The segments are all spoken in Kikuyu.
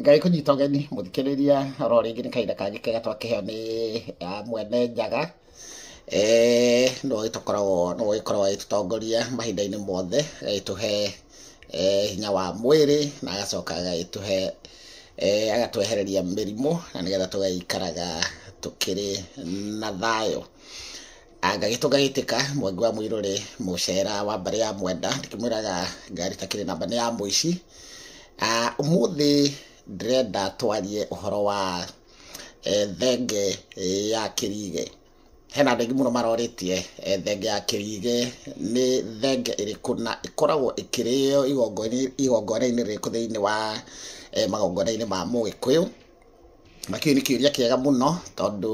ngai kũnyita ũgeni mũthikĩrĩria oro rĩngĩ nĩ kahinda kangĩ kega twakĩheo nĩ ah, mwene njaga Eh, nĩwe ũgĩtũkoragwo nĩwe ũgĩkoragwo agĩtũtongoria mahinda-inĩ mothe agagĩtũhe eh, hinya wa mwĩrĩ na agacoka agagĩtũhe eh, agatwehereria mĩrimũ na nĩgetha tũgaikaraga tũkĩrĩ na thayũ ngagĩtũ ngagĩtĩka mwangi wa mũirũ rĩ mũcera wa mbarĩ ya mwenda ndĩkĩmwĩraga ngari takĩrĩ namba nĩ ya mũici Ah, ũmũthĩ ndĩrenda twarie ũhoro wa eh, thenge eh, ya kĩrige hena andũ aingĩ mũno marorĩtie eh, thenge ya kĩrige nĩ thenge ĩrĩkũ na ĩkoragwo ĩkĩrĩo igongona-inĩ- igongona-inĩ rĩrĩkũ thĩinĩ wa eh, magongona-inĩ ma mũgĩkũyũ Na kĩu nĩ kĩũria kĩega mũno tondũ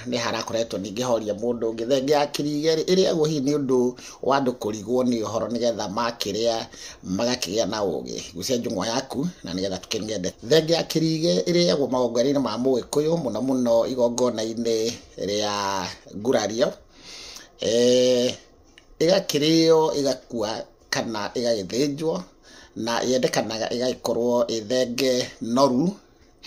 nĩ harakoretwo ningĩ horia mũndũ ũngĩ thenge ya kĩriga ĩrĩagwo hihi nĩ ũndũ wa andũ kũrigwo nĩ ũhoro nĩgetha makĩrĩa magakĩgĩa na ũgĩ. Gucia njũng'wa yaku na nĩgetha tũkĩnyue ndeto. Thenge ya kĩriga ĩrĩagwo magongona-inĩ ma Mũgĩkũyũ mũno mũno igongona-inĩ rĩa ngurario, ĩgakĩrĩo ĩgakua. kana ĩgagĩthĩnjwo, na yendekanaga ĩgagĩkorwo ĩ thenge noru,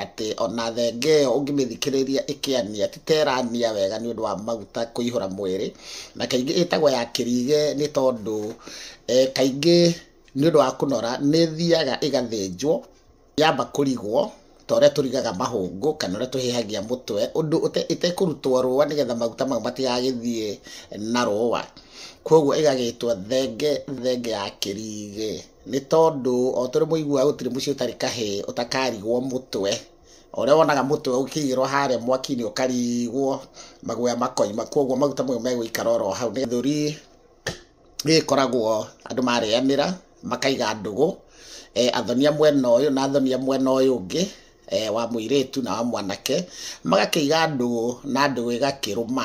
atĩ ona thenge ĩyo ũngĩmĩthikĩrĩria ĩkĩania ti ta ĩrania wega nĩ ũndũ wa maguta kũihũra mwĩrĩ, na kaingĩ ĩtagwo ya kĩriga nĩ tondũ kaingĩ nĩ ũndũ wa kũnora nĩ ĩthiaga ĩgathĩnjwo. yamba kũrigwo ta ũrĩa tũrigaga mahũngũ kana ũrĩa tũhĩhagia mũtwe ũndũ ĩtekũrutwo rũa nĩgetha maguta mau matigagĩthiĩ na rũa kwoguo ĩgagĩtwo thenge thenge ya kĩrigĩ nĩ tondũ o tũrĩ mũiguaga gũtirĩ mũciĩ ũtarĩ kahĩ ũtakarigwo mũtwe ũrĩa wonaga mũtwe ũkĩigĩrwo harĩa mwaki-inĩ ũkarigwo maguoya makoima kwoguo maguta mau megũikara oro hau nĩ gĩthũri ĩgĩkoragwo andũ marĩanĩra makaiga ndũgũ, athonia mwena ũyũ na athonia mwena ũyũ ũngĩ, wa mũirĩtu na wa mwanake, magakĩiga ndũgũ na ndũgũ ĩgakĩrũma.